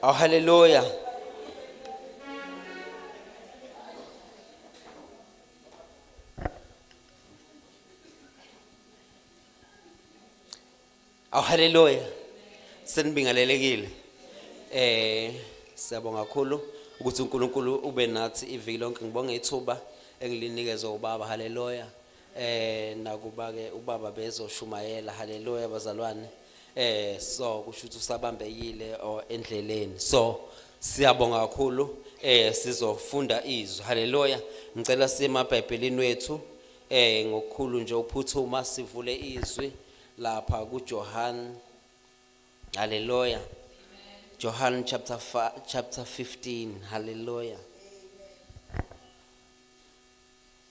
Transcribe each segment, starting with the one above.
Oh, hallelujah. Oh, hallelujah. Senibingelelekile. Eh, siyabonga kakhulu ukuthi uNkulunkulu ube nathi iviki lonke. Ngibonga ithuba engilinikezwe ubaba. Hallelujah. Eh nakuba ke ubaba bezoshumayela haleluya bazalwane eh so kusho ukuthi usabambekile o endleleni so siyabonga kakhulu eh sizofunda izwi haleluya ngicela sima bhayibhelini wethu eh ngokukhulu nje uphuthuma sivule izwi lapha kuJohn haleluya Johann chapter chapter 15 haleluya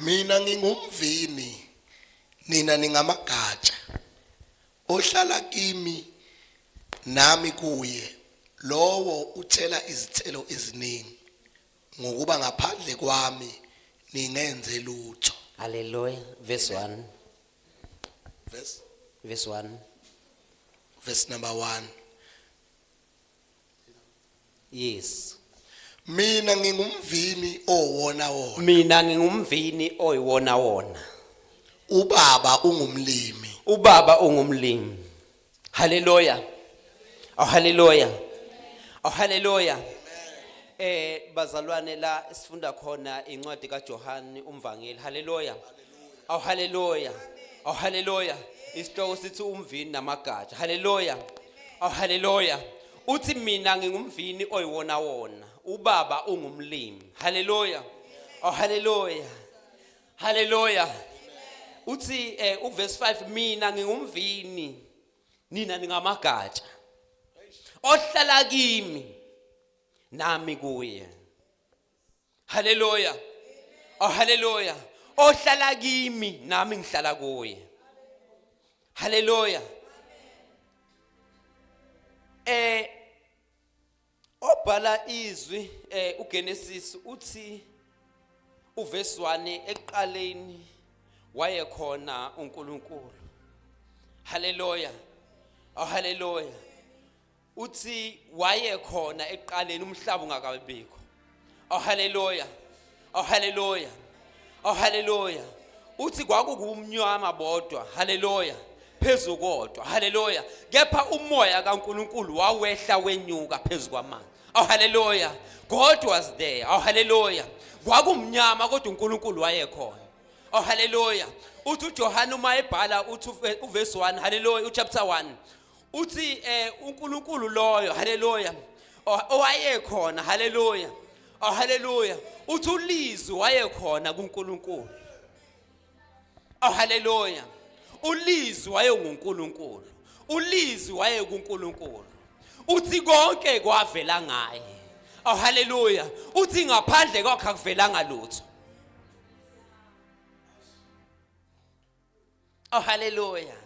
mina ngingumvini nina ningamagatsha ohlala kimi nami kuye lowo uthela izithelo eziningi ngokuba ngaphandle kwami ningenze lutho haleluya verse 1 verse verse 1 verse number 1 yes mina ngingumvini owona wona mina ngingumvini oyiwona wona ubaba ungumlimi ubaba ungumlimi haleluya oh haleluya oh haleluya eh bazalwane la sifunda khona incwadi kaJohane umvangeli haleluya awu haleluya awu haleluya isihloko sithi umvini namagatsha haleluya awu haleluya uthi mina ngingumvini oyiwona wona ubaba ungumlimi haleluya oh haleluya haleluya uthi eh uverse 5 mina ngingumvini nina ningamagatsha ohlala kimi nami kuye haleluya oh haleluya ohlala kimi nami ngihlala kuye haleluya eh obhala izwi eh uGenesis uthi uvesi 1 ekuqaleni wayekhona uNkulunkulu haleluya oh haleluya uthi wayekhona ekuqaleni umhlaba ungakabibikho oh haleluya oh haleluya oh haleluya uthi kwakukumnyama bodwa haleluya phezu kodwa haleluya kepha umoya kaNkuluNkulu wawehla wenyuka phezu kwamanzi oh haleluya god was there oh haleluya kwakumnyama kodwa uNkulunkulu wayekhona oh haleluya uthi uJohane uma ebhala uthi uvesi 1 haleluya uchapter 1 uthi eh uNkulunkulu loyo haleluya O- owayekhona haleluya oh haleluya uthi ulizwi wayekhona kuNkulunkulu oh haleluya ulizwi wayenguNkulunkulu ulizwi wayekuNkulunkulu uthi konke kwavela ngaye oh haleluya uthi ngaphandle kwakhe akuvelanga lutho Oh hallelujah.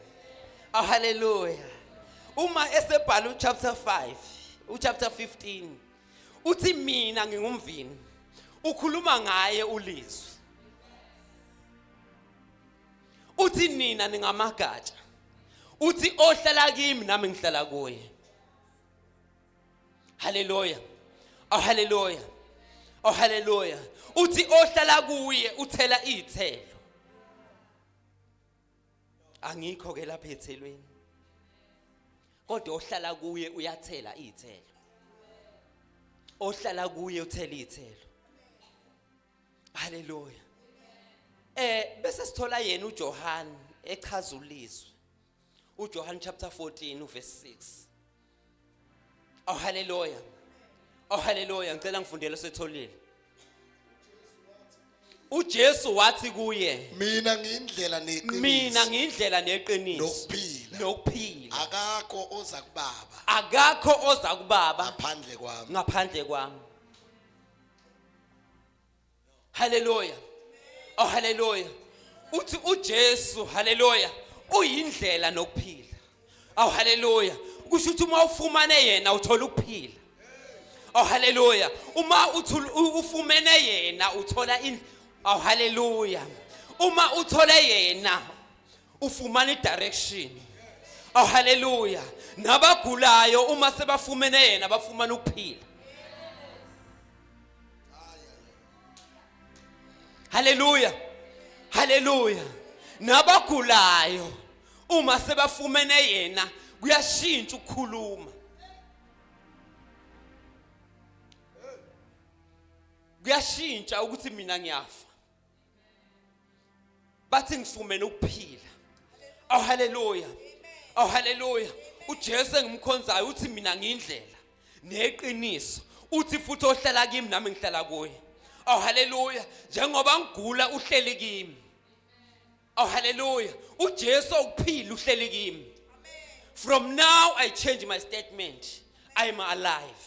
Oh hallelujah. Uma esebhala uchapter 5, uchapter 15 uthi mina ngingumvini. Ukhuluma ngaye ulizwi. Uthi nina ningamagatsha. Uthi ohlala kimi nami ngihlala kuye. haleluya oh haleluya oh haleluya uthi ohlala kuye uthela izithelo angikho ke lapha ethelweni kodwa ohlala kuye uyathela izithelo ohlala kuye uthela izithelo haleluya eh bese sithola yena uJohane echaza ulizwi uJohane chapter 14 uverse 6 Oh haleluya Oh haleluya ngicela ngifundele setholile uJesu wathi kuye mina ngiyindlela neqiniso mina ngiyindlela neqiniso nokuphila nokuphila akakho oza kubaba akakho oza kubaba ngaphandle kwami ngaphandle kwami haleluya oh haleluya uthi uJesu haleluya uyindlela nokuphila aw haleluya kusho ukuthi uma ufumane yena uthola ukuphila aw haleluya uma ufumene yena uthola aw haleluya uma uthole yena ufumana idirection aw haleluya nabagulayo uma sebafumene yena bafumana ukuphila haleluya haleluya nabagulayo uma sebafumene yena kuyashintsha ukukhuluma kuyashintsha ukuthi mina ngiyafa bathi ngifumene ukuphila aw haleluya aw haleluya uJesu engimkhonzayo uthi mina ngiyindlela neqiniso uthi futhi ohlala kimi nami ngihlala kuye aw haleluya njengoba ngigula uhleli kimi aw haleluya uJesu ukuphila uhleli kimi from now i change my statement i am alive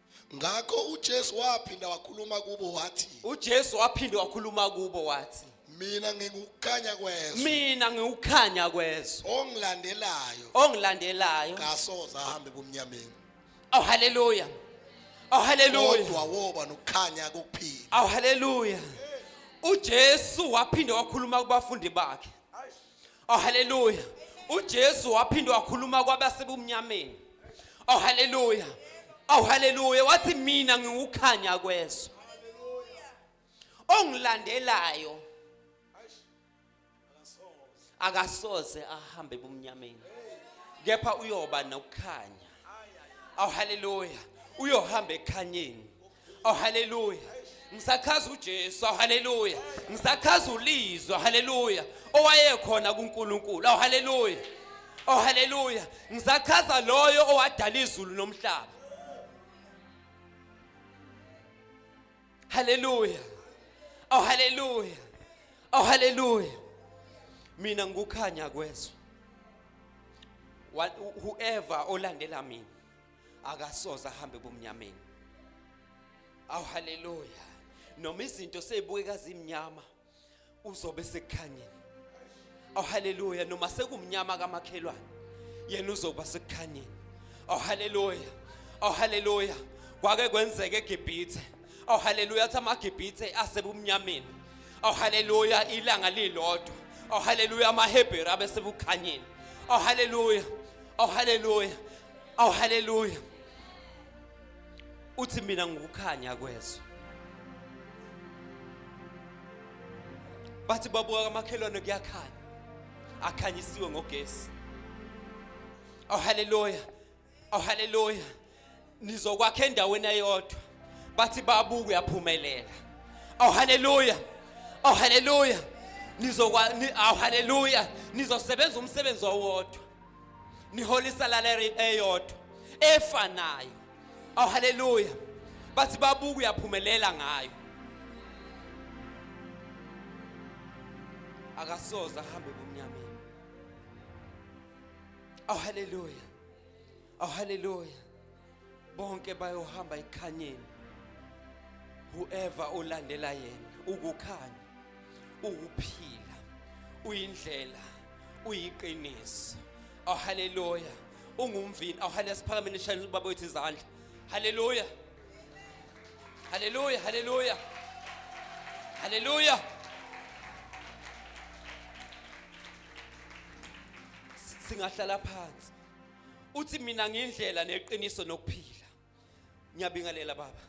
ngakho uJesu waphinda wakhuluma kubo wathi uJesu waphinde wakhuluma kubo wathi mina ngikukhanya kwezwe mina ngiwukhanya kwezwe ongilandelayo ongilandelayo kasoze ahambe kumnyameni aw haleluya aw haleluya kodwa woba nokukhanya kokuphila aw haleluya uJesu waphinde wakhuluma kubafundi bakhe Oh haleluya. UJesu waphinde wakhuluma kwabasebumnyameni. Oh haleluya. Oh haleluya. Wathi mina ngiwukhanya kwezwe. Ongilandelayo akasoze ahambe ebumnyameni. Kepha uyoba nokukhanya. Oh haleluya. Uyohamba ekhanyeni. Oh hallelujah. Ngisachaza uJesu, oh hallelujah. Ngisachaza ulizwe, oh hallelujah. Owayekhona kuNkulunkulu, oh hallelujah. Oh hallelujah. Ngisachaza loyo owadala izulu nomhlaba. Hallelujah. Oh hallelujah. Oh hallelujah. Mina ngukhanya kwezwe. Whoever olandela mina akasoze ahambe bomnyameni aw haleluya noma izinto seyibukeka zimnyama uzobe sekukhanyeni aw haleluya noma sekumnyama kamakhelwane yena uzoba sekukhanyeni aw haleluya aw haleluya kwake kwenzeke eGibhithe aw haleluya athi amaGibhithe asebumnyameni aw haleluya ilanga lilodwa aw haleluya amaHebheru abesekukhanyeni aw haleluya aw haleluya awu haleluya uthi mina ngukukhanya kwezwe bathi babuka kamakhelwane kuyakhanya akhanyisiwe ngogesi awu haleluya awu haleluya nizokwakha endaweni eyodwa bathi babuka uyaphumelela awu haleluya awu haleluya nizokwa awu haleluya nizosebenza umsebenzi owodwa nihola isalalary eyodwa efanayo aw haleluya bathi babuka uyaphumelela ngayo akasoze ahambe ebumnyameni aw haleluya aw haleluya bonke bayohamba ekhanyeni whoever olandela yena ukukhanya ukuphila uyindlela uyiqiniso aw haleluya ungumvini aw haleluya siphakameni shayela ubaba wethu izandla haleluya haleluya haleluya haleluya singahlala phansi uthi mina ngindlela neqiniso nokuphila ngiyabingelela baba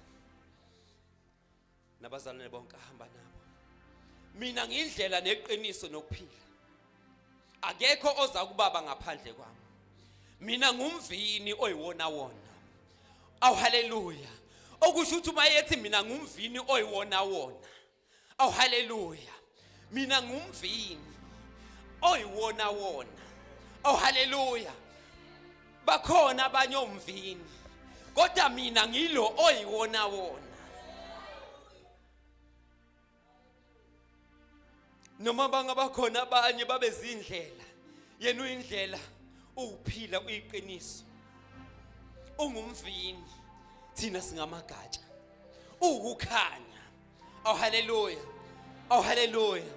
nabazalwane bonke ahamba nabo mina ngindlela neqiniso nokuphila akekho oza kubaba ngaphandle kwami mina ngumvini oyiwona wona awu haleluya okusho ukuthi uma yethi mina ngumvini oyiwona wona awu haleluya mina ngumvini oyiwona wona awu haleluya bakhona abanye omvini kodwa mina ngilo oyiwona wona noma bangabakhona abanye babezindlela yena uyindlela uwuphila uyiqiniso ungumvini thina singamagatsha uwukukhanya Oh hallelujah. Oh hallelujah.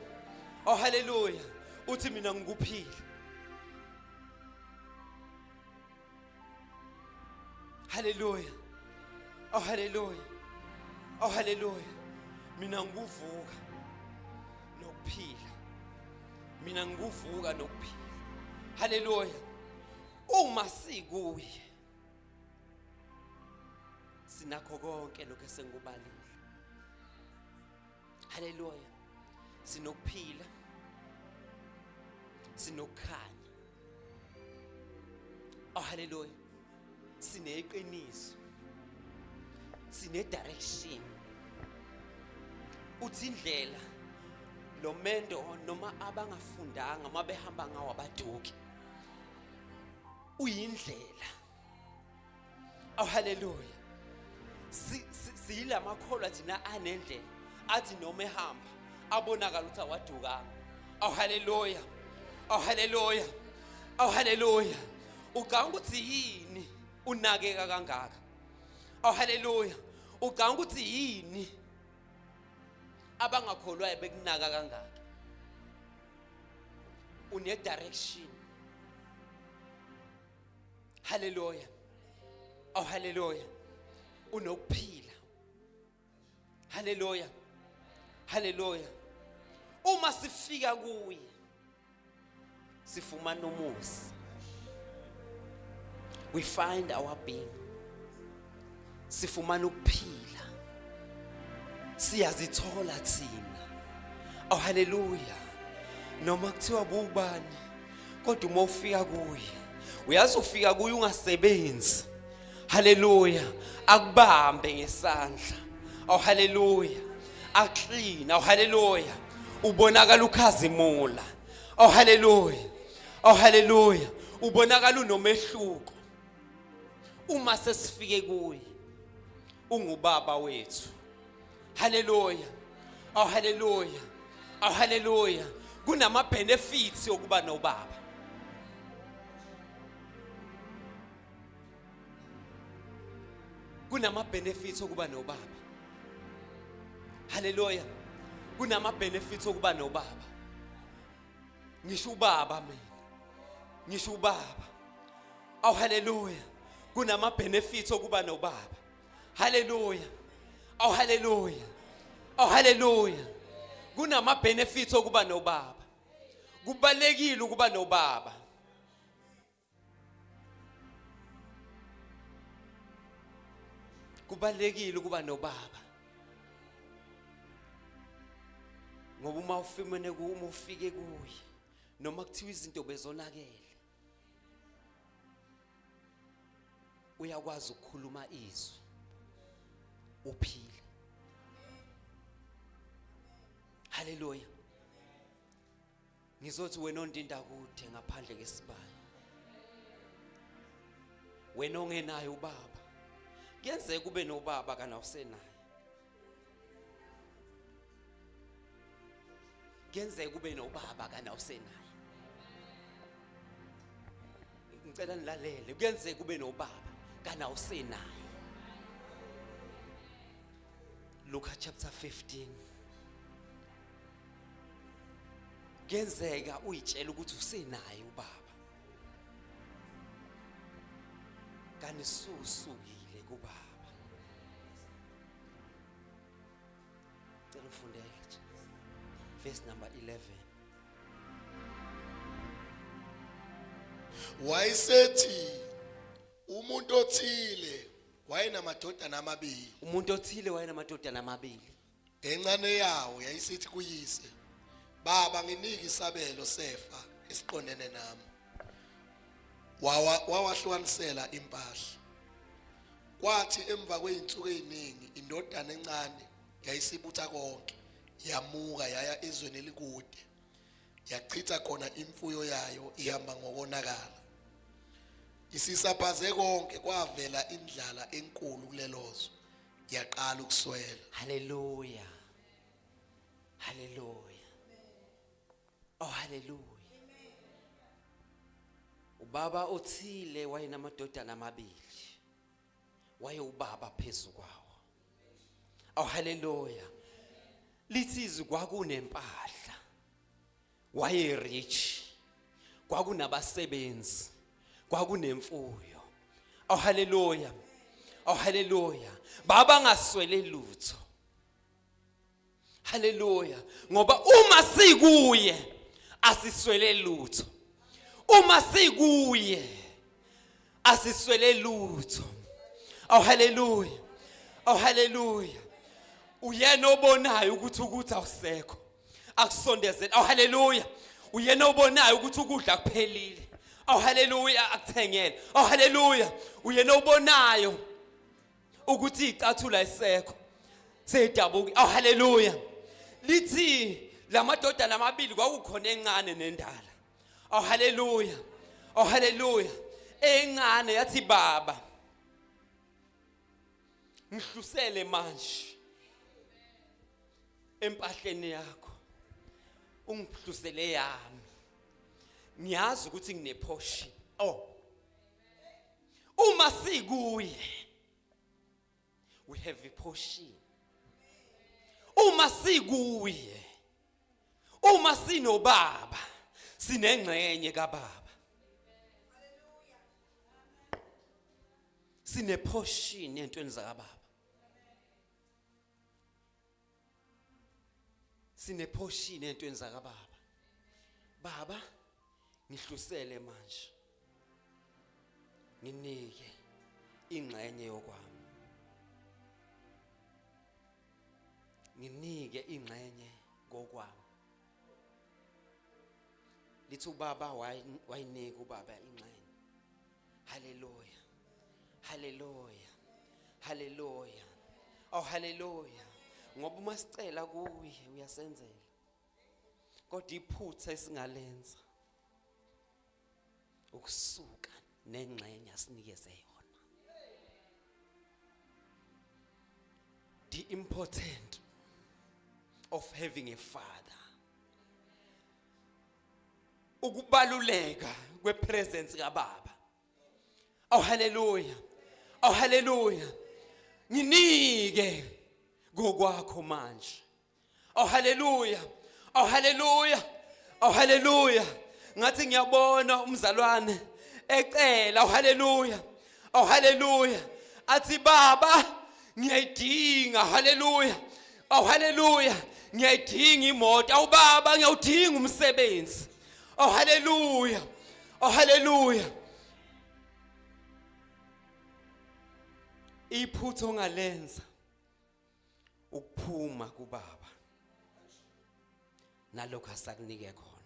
Oh hallelujah. Uthi mina ngikuphile. Hallelujah. Oh hallelujah. Oh hallelujah. Mina ngikuvuka nokuphila. Mina ngikuvuka nokuphila. Hallelujah. Uma sikuye sinakho konke lokho esengikubalile haleluya sinokuphila sinokukhanya oh haleluya sineqiniso sine direction uthi indlela lo mendo noma abangafundanga uma behamba ngawo abaduki uyindlela aw haleluya siyila makholwa thina anendlela athi noma ehamba abonakala ukuthi awadukanga aw haleluya aw haleluya aw haleluya ucanga ukuthi yini unakeka kangaka aw haleluya ucanga ukuthi yini abangakholwayo bekunaka kangaka une direction haleluya aw haleluya unokuphila haleluya haleluya uma sifika kuye sifumana umuzi we find our being sifumana ukuphila siyazithola thina oh haleluya noma kuthiwa bubani kodwa uma ufika kuye uyazi ufika kuye ungasebenzi haleluya akubambe ngesandla awu haleluya aklina awu haleluya ubonakala ukhazimula awu haleluya awu haleluya ubonakala unomehluko uma sesifike kuye ungubaba wethu haleluya awu haleluya awu haleluya kunama benefits okuba nobaba kunama benefits okuba nobaba haleluya kunama benefits okuba nobaba ngisho ubaba mina ngisho ubaba aw haleluya kunama benefits okuba nobaba haleluya aw haleluya aw haleluya kunama benefits okuba nobaba kubalekile ukuba nobaba kubalekile ukuba nobaba ngoba uma ufimene uma ufike kuye noma kuthiwa izinto bezonakele uyakwazi ukukhuluma izwi uphile haleluya ngizothi wena ondinda kude ngaphandle kesibaya wena ongenayo ubaba kuyenzeka kube nobaba kana usenaye kuyenzeka kube nobaba kana usenaye ngicela nilalele kuyenzeka kube nobaba kana usenaye Luka chapter 15 kuyenzeka uyitshela ukuthi usenaye ubaba kanti susukile kubaba cela ufundele nje verse number 11 wayesethi umuntu othile wayenamadodana amabili umuntu othile wayenamadodana amabili Encane yawo yayisithi kuyise, "Baba, nginike isabelo sefa esiqondene nami." Wawa wawahlukanisela impahla. Kwathi emva kweinsuku eziningi indodana encane yayisibutha konke, yamuka yaya ezweni elikude. Yachitha khona imfuyo yayo ihamba ngokonakala. Isisaphaze konke kwavela indlala enkulu kulelozwe. yaqala ukuswela haleluya haleluya oh haleluya ubaba othile wayenamadodana amabili wayewubaba phezulu kwawo oh haleluya lithi izwi kwakunempahla waye rich kwakunabasebenzi kwakunemfuyo aw haleluya aw haleluya baba ngaswele lutho haleluya ngoba uma sikuye asiswele lutho uma sikuye asiswele lutho aw haleluya aw haleluya uyena obonayo ukuthi ukuthi awusekho akusondezele awu haleluya uyena obonayo ukuthi ukudla kuphelile awu haleluya akuthengele awu haleluya uyena obonayo ukuthi icathula isekho seyidabuki awu haleluya lithi lamadodana amabili kwakukhona encane nendala awu haleluya awu haleluya encane yathi baba ngihlusele manje empahleni yakho ungihlusele yami ngiyazi ukuthi nginephoshi oh uma sikuye we have a portion uma sikuye uma sinobaba sinengxenye kababa sine portion entweni zakababa sine portion entweni zakababa baba ngihlusele manje nginike ingxenye yokwami nginike ingxenye kokwami lithi ubaba wayinika ubaba ingxenye Hallelujah. Hallelujah. Hallelujah. Oh hallelujah. Ngoba uma sicela kuye uyasenzela. Kodwa iphutha esingalenza ukusuka nengxenye asinikeze yona. The important of having a father ukubaluleka kwepresence kababa aw haleluya aw haleluya nginike kokwakho manje aw haleluya aw haleluya aw haleluya ngathi ngiyabona umzalwane ecela aw haleluya Oh haleluya. Athi baba ngiyayidinga haleluya. Oh haleluya. Ngiyayidinga imoto. Awu baba ngiyawudinga umsebenzi. Oh haleluya. Oh haleluya. Iphutho ngalenza. ukuphuma kubaba nalokho asakunike khona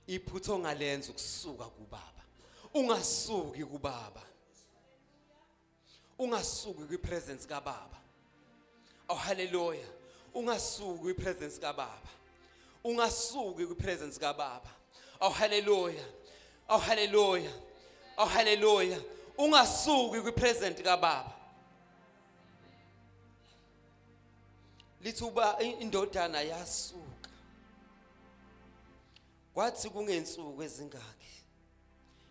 iphutha ongalenza ukusuka kubaba ungasuki kubaba ungasuki kwipresence kababa oh haleluya ungasuki kwipresence kababa ungasuki kwi presence ka baba aw haleluya aw haleluya aw haleluya ungasuki kwi present ka baba lithi uba indodana yasuka kwathi kungensuku ezingaki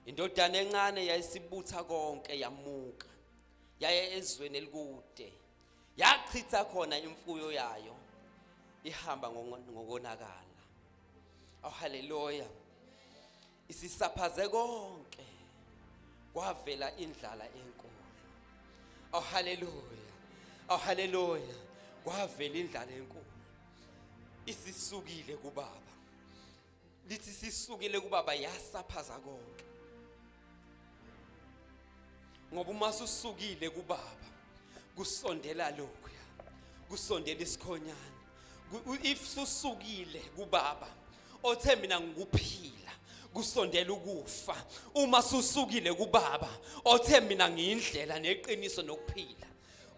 indodana encane yayisibutha konke yamuka yaye ezweni elikude yachitha khona imfuyo yayo ihamba ngokonakala oh haleluya isisaphaze konke kwavela indlala enkulu oh haleluya oh haleluya kwavela indlala enkulu isisukile kubaba lithi sisukile kubaba yasaphaza konke ngoba uma susukile kubaba kusondela lokhu kusondela isikhonyana if susukile kubaba othe mina ngikuphile kusondela ukufa uma susukile kubaba othe mina ngiyindlela neqiniso nokuphila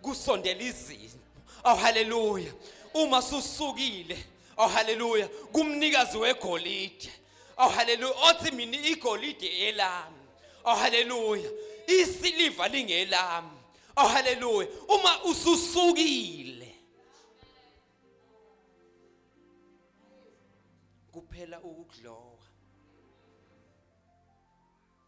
kusondela izimo oh haleluya uma susukile oh haleluya kumnikazi wegolide oh haleluya othi mina igolide elami oh haleluya isiliva lingelami oh haleluya uma ususukile kuphela ukuglowa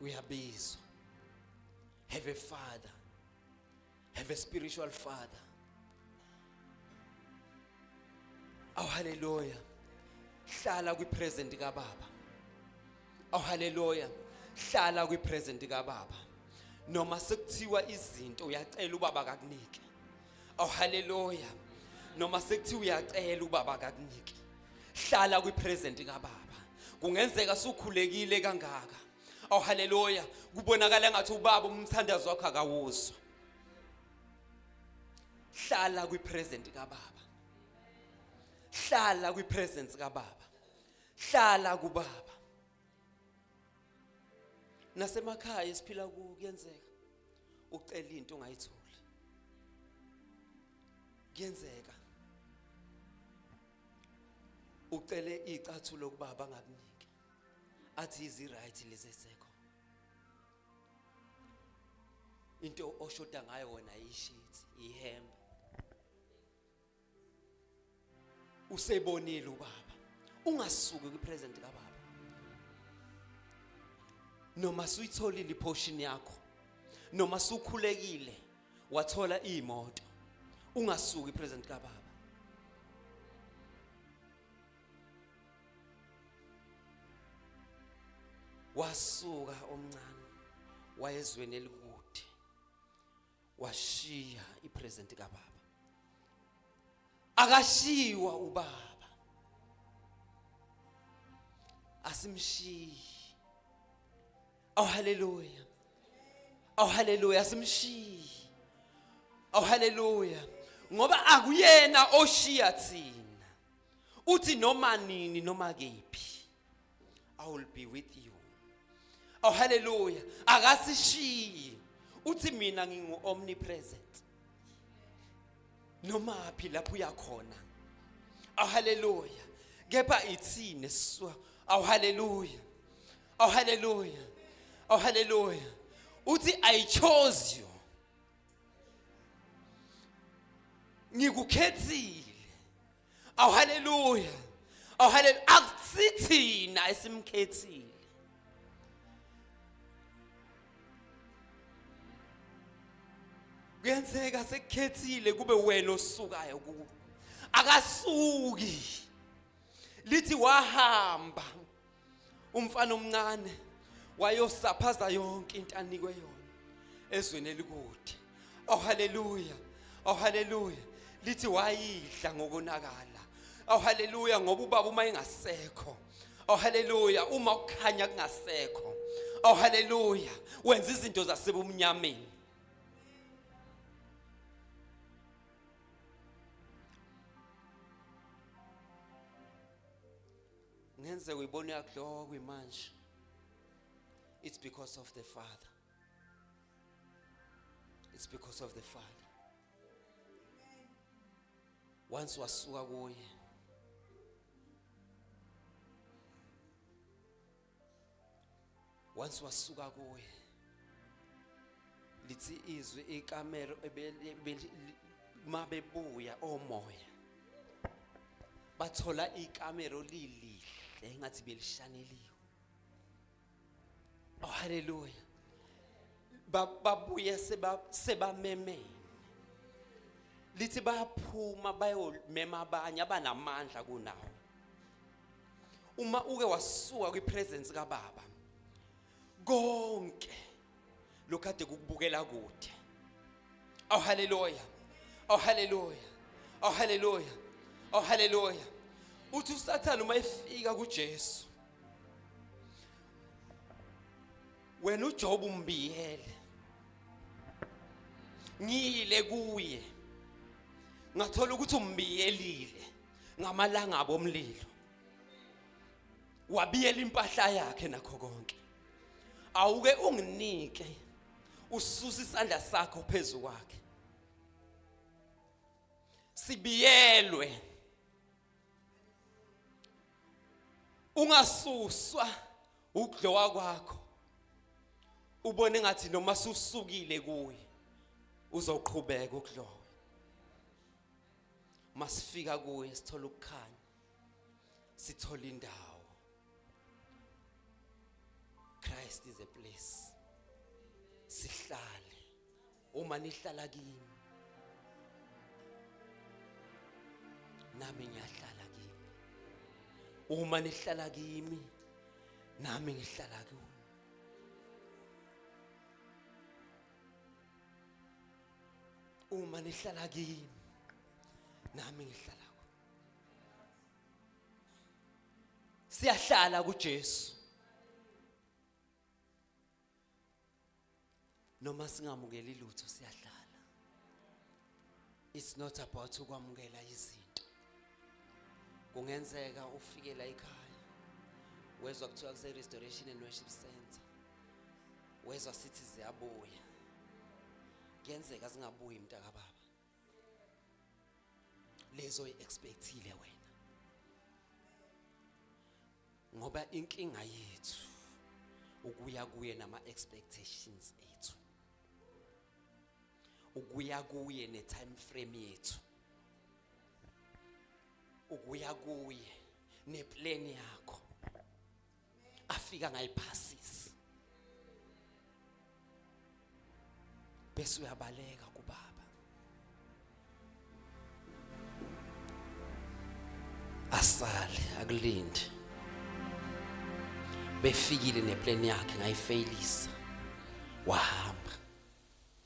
uyabizwa have a father have a spiritual father aw haleluya hlala kwi present ka baba aw haleluya hlala kwi present ka baba noma sekuthiwa izinto uyacela ubaba akakunike Oh haleluya. Noma sekuthiwa uyacela ubaba akakuniki. Hlala kwi present kababa. Kungenzeka sukhulekile kangaka. Oh haleluya. Kubonakala ngathi ubaba umthandazo wakho akawuzwa. Hlala kwi present kababa. Hlala kwi presence kababa. Hlala kubaba. nasemakhaya esiphila ku kuyenzeka ucela into ungayitholi kuyenzeka ucele icathulo kubaba angakuniki athi izi right lezi esekho into oshoda ngayo wena yishithi ihembe usebonile ubaba ungasuki kwi present ka baba noma suyitholile iportion yakho noma sukhulekile wathola imoto ungasuki present ka baba wasuka omncane wayezweni elikude washiya ipresent kababa akashiwa ubaba asimshiyi aw haleluya aw haleluya asimshiyi aw haleluya ngoba akuyena oshiya thina uthi noma nini noma kephi I will be with you. Oh hallelujah. Akasishiyi. Uthi mina ngingu omnipresent. Noma phi lapho uyakhona. Oh hallelujah. Kepha ithini siswa. Oh hallelujah. Oh hallelujah. Oh hallelujah. Uthi I chose you. Ngikukhethile. aw haleluya aw haleluya akusithina esimkhethile kuyenzeka sekukhethile kube wena osukayo kuwo akasuki lithi wahamba umfana omncane wayosaphaza yonke into anikwe yona ezweni elikude oh haleluya oh haleluya lithi wayidla ngokonakala oh haleluya ngoba ubaba uma engasekho oh haleluya uma ukukhanya kungasekho oh haleluya wenza izinto zasebumnyameni ngenzeka uyibona uyakuhlokwa imanje it's because of the father it's because of the father once wasuka kuye once wasuka kuye lithi izwi ikamelo mabebuya omoya bathola ikamelo lilihle engathi belishaneliwe oh haleluya babuye sebamemene lithi bayaphuma bayomema abanye abanamandla kunawo uma uke wasuka kwipresence kababa konke lokade kukubukela kude aw haleluya aw haleluya aw haleluya aw haleluya uthi usathane uma efika kuJesu wena uJob umbiyele ngiyile kuye ngathola ukuthi umbiyelile ngamalanga abomlilo wabiyela impahla yakhe nakho konke awuke unginike ususa isandla sakho phezu kwakhe sibiyelwe ungasuswa ukudlowa kwakho ubone ngathi noma susukile kuye uzoqhubeka ukudlowa masifika kuye sithola ukukhanya sithola indawo Christ is a place sihlale uma nihlala kimi nami ngiyahlala kimi uma nihlala kimi nami ngihlala kuwe uma nihlala kimi nami ngihlala ku siyahlala kuJesu noma singamukeli lutho siyahlala it's not about ukwamukela izinto kungenzeka ufikela ekhaya wezwa kuthiwa kuse restoration and worship center wezwa sithi ziyabuya kuyenzeka zingabuyi mntaka baba lezo expectile wena ngoba inkinga yethu ukuya kuye nama expectations ethu ukuya kuye ne time frame yethu ukuya kuye ne plan yakho afika ngayiphasisa bese uyabaleka kubaba asale akulinde befikile neplan yakhe ngayifailisa wahamba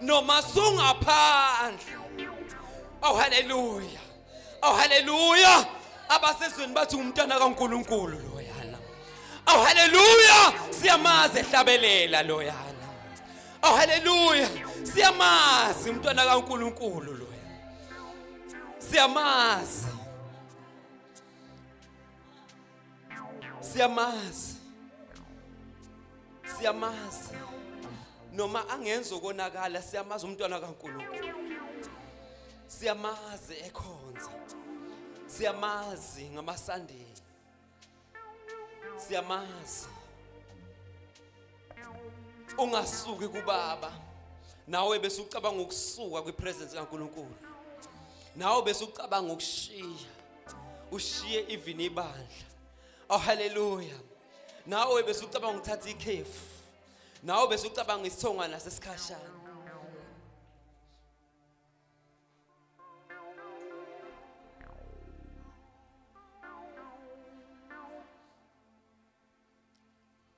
noma sungaphandle oh haleluya oh haleluya abasezweni bathi umntana kaNkuluNkulu loyana oh haleluya siyamazi ehlabelela loyana oh haleluya siyamazi umntwana kaNkuluNkulu loyana siyamazi siyamazi siyamazi noma angenza ukonakala siyamazi umntwana kaNkulunkulu siyamazi ekhonza siyamazi ngamaSunday siyamazi ungasuki kubaba nawe bese ucabanga ukusuka kwipresence kaNkuluNkulu nawe bese ucabanga ukushiya ushiye even ibandla oh haleluya nawe bese ucabanga ukuthatha ikhefu nawe bese ucabanga isithongwana sesikhashana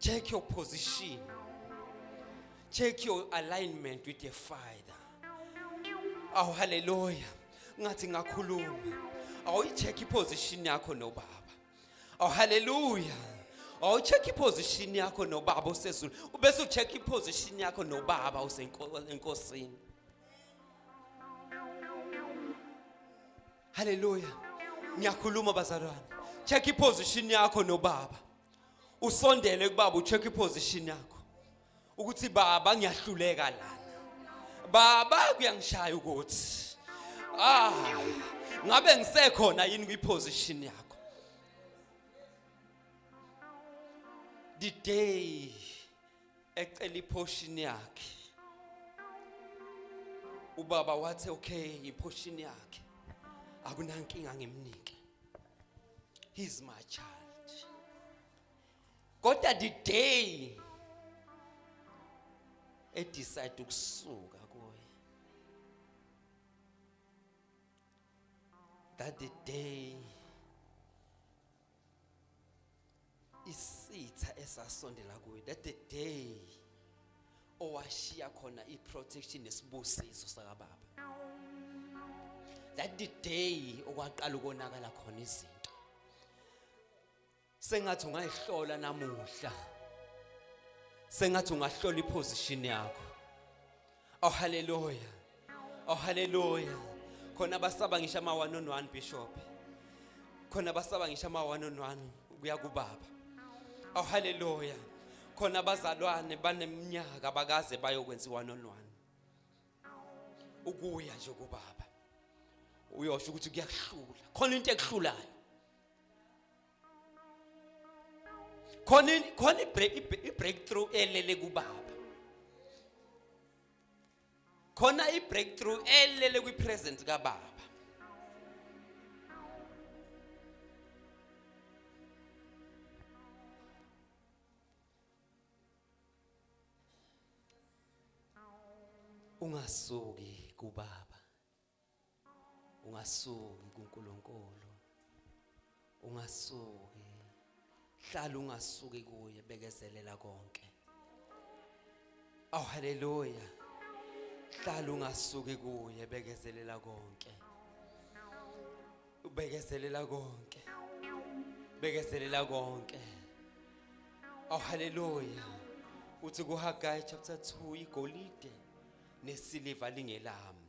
Check your position. Check your alignment with your father. Awu haleluya. Ngathi ngakhuluma. Awuyicheck iposition yakho nobaba. Awu haleluya. Awucheck iposition yakho nobaba osezulu. Ubese ucheck iposition yakho nobaba osenkosini. haleluya ngiyakhuluma bazalwane check iposition yakho nobaba usondele kubaba ucheck iposition yakho ukuthi baba ngiyahluleka lana baba kuyangishaya ukuthi ah ngabe ngisekhona yini kwiposition yakho the day ecela iphoshini yakhe ubaba wathi okay iphoshini yakhe akunankinga ngimnike he's my child kodwa the day e decide ukusuka kuye that the day isitha esasondela kuye that the day owashiya khona iprotection nesibusiso sakababa that the day okwaqala ukonakala khona izinto sengathi ungayihlola namuhla sengathi ungahlola iposition yakho Oh hallelujah. Oh hallelujah. Khona basaba ngisho ama one on one bishop. Khona basaba ngisho ama one on one kuya kubaba. Oh hallelujah. Khona bazalwane baneminyaka bakaze bayokwenza one on one. Ukuya nje kubaba. Uyosho ukuthi kuyakuhlula. Khona into ekuhlulayo. khona khona i-breakthrough elele kubaba khona i-breakthrough elele kwi-present kababa ungasuki kubaba ungasuki kuNkulunkulu ungasuki hlala ungasuki kuye bekezelela konke aw oh, haleluya hlala ungasuki kuye bekezelela konke ubekezelela konke bekezelela konke aw oh, haleluya uthi kuHagayi chapter 2 igolide nesiliva lingelami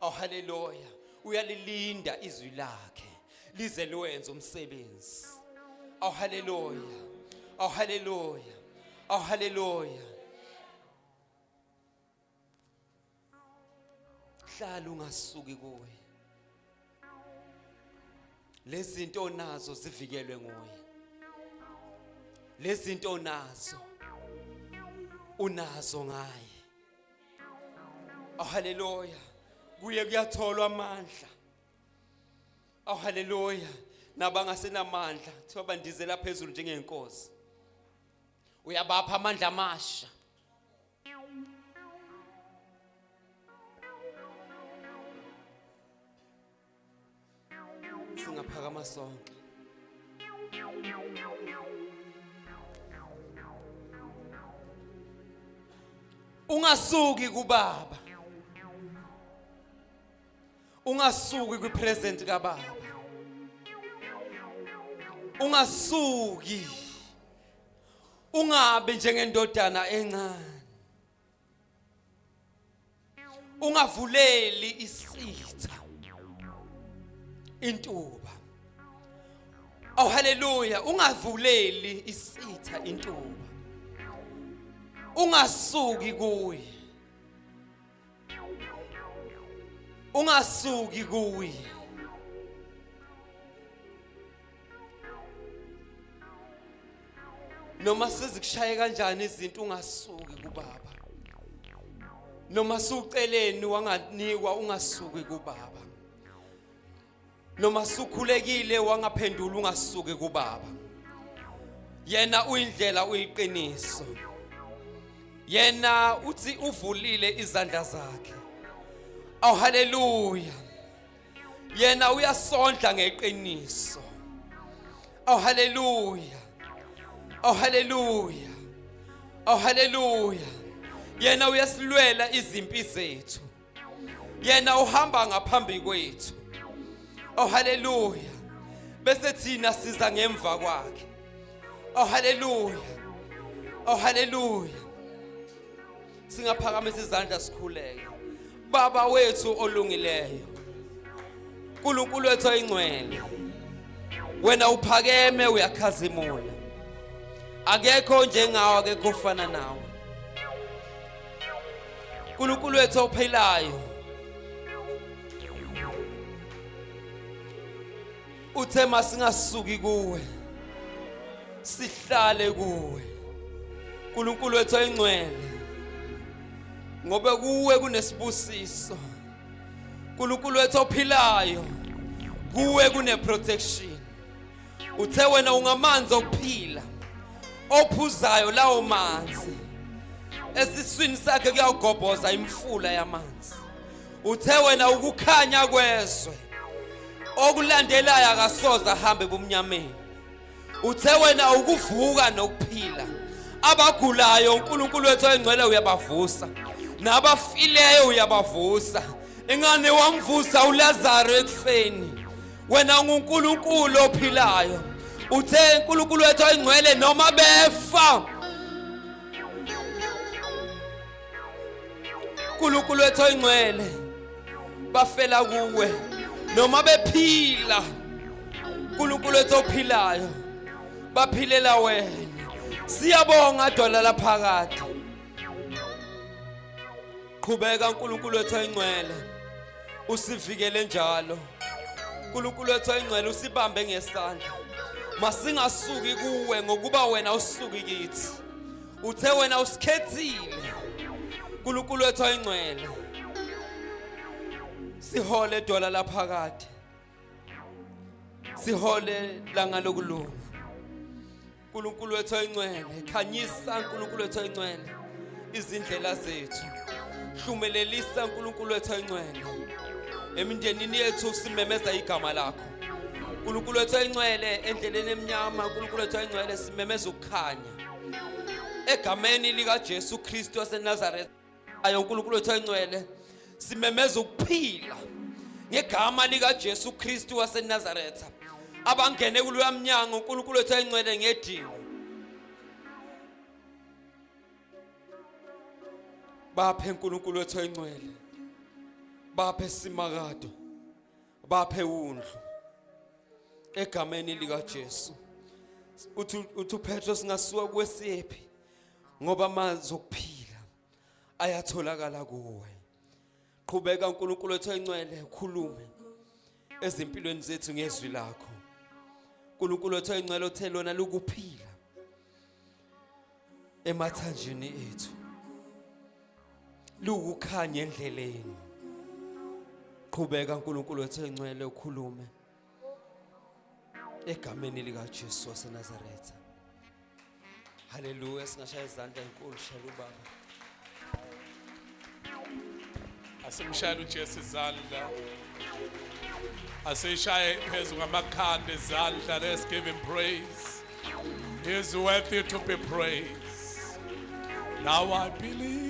Oh haleluya. Uyalilinda izwi lakhe lize liwenze umsebenzi. Oh haleluya. Oh haleluya. Oh haleluya. Hlala ungasuki kuwe. Lezinto onazo zivikelwe nguye. Lezinto onazo unazo ngaye. Oh haleluya. Kuye kuyatholwa amandla. Oh haleluya. Nabangasenamandla kuthiwa bandizela phezulu njengenkosi. Uyabapha amandla amasha. singaphakama sonke ungasuki kubaba ungasuki kwipresent kababa ungasuki ungabe njengendodana encane ungavuleli isitha intuba aw haleluya ungavuleli isitha intuba ungasuki kuye ungasuki kuye noma sezikushaye kanjani izinto ungasuki kubaba noma suceleni wanganikwa ungasuki kubaba noma sukhulekile wangaphendula ungasuki kubaba yena uyindlela uyiqiniso yena uthi uvulile izandla zakhe oh haleluya yena uyasondla ngeqiniso aw haleluya aw haleluya aw haleluya yena uyasilwela izimpi zethu yena uhamba ngaphambi kwethu oh haleluya bese thina siza ngemva kwakhe oh haleluya oh haleluya singaphakamisa izandla sikhuleke baba wethu olungileyo uNkulunkulu wethu oyingcwele wena uphakeme uyakhazimula akekho njengawe akekho ofana nawe uNkulunkulu wethu ophilayo uthe masingasuki kuwe sihlale kuwe uNkulunkulu wethu oyingcwele ngoba kuwe kunesibusiso uNkulunkulu wethu ophilayo kuwe kune protection uthe wena ungamanzi okuphila ophuzayo lawo manzi esiswini sakhe kuyawugobhoza imfula yamanzi uthe wena ukukhanya kwezwe okulandelayo akasoze ahambe ebumnyameni uthe wena ukuvuka nokuphila abagulayo uNkulunkulu wethu oyingcwele uyabavusa nabafileyo uyabavusa ingane wamvusa uLazaro ekufeni wena unguNkulunkulu ophilayo uthe uNkulunkulu wethu oyingcwele noma befa uNkulunkulu wethu oyingcwele bafela kuwe noma bephila uNkulunkulu wethu ophilayo baphilela wena siyabonga dwala laphakade qhubeka uNkulunkulu wethu oyingcwele usivikele njalo uNkulunkulu wethu oyingcwele usibambe ngesandla masingasuki kuwe ngokuba wena usuki kithi uthe wena usikhethile uNkulunkulu wethu oyingcwele sihole dola laphakade sihole langa lokulunga uNkulunkulu wethu oyingcwele khanyisa uNkulunkulu wethu oyingcwele izindlela zethu hlumelelisa uNkulunkulu wethu oyingcwele emindenini yethu simemeza igama lakho uNkulunkulu wethu oyingcwele endleleni emnyama uNkulunkulu wethu oyingcwele simemeza ukukhanya egameni likaJesu Kristu waseNazareth ayo uNkulunkulu wethu oyingcwele simemeza ukuphila ngegama likaJesu Kristu waseNazareth abangene kuloya mnyango uNkulunkulu wethu oyingcwele ngedingo baphe uNkulunkulu wethu oyingcwele baphe simakado baphe undlu egameni lika Jesu uthi uthi uPetro singasuka kwesiphi ngoba amanzi okuphila ayatholakala kuwe qhubeka uNkulunkulu wethu encwele ukhulume ezimpilweni zethu ngezwi lakho uNkulunkulu wethu encwele othe lona lukuphila emathanjeni ethu lukukhanya endleleni qhubeka uNkulunkulu wethu encwele ukhulume egameni lika Jesu waseNazaretha haleluya singashaya izandla enkulu shela ubaba asimshayele uJesu izandla asishaye phezu kwamakhanda ezandla let's give him praise he is worthy to be praised now i believe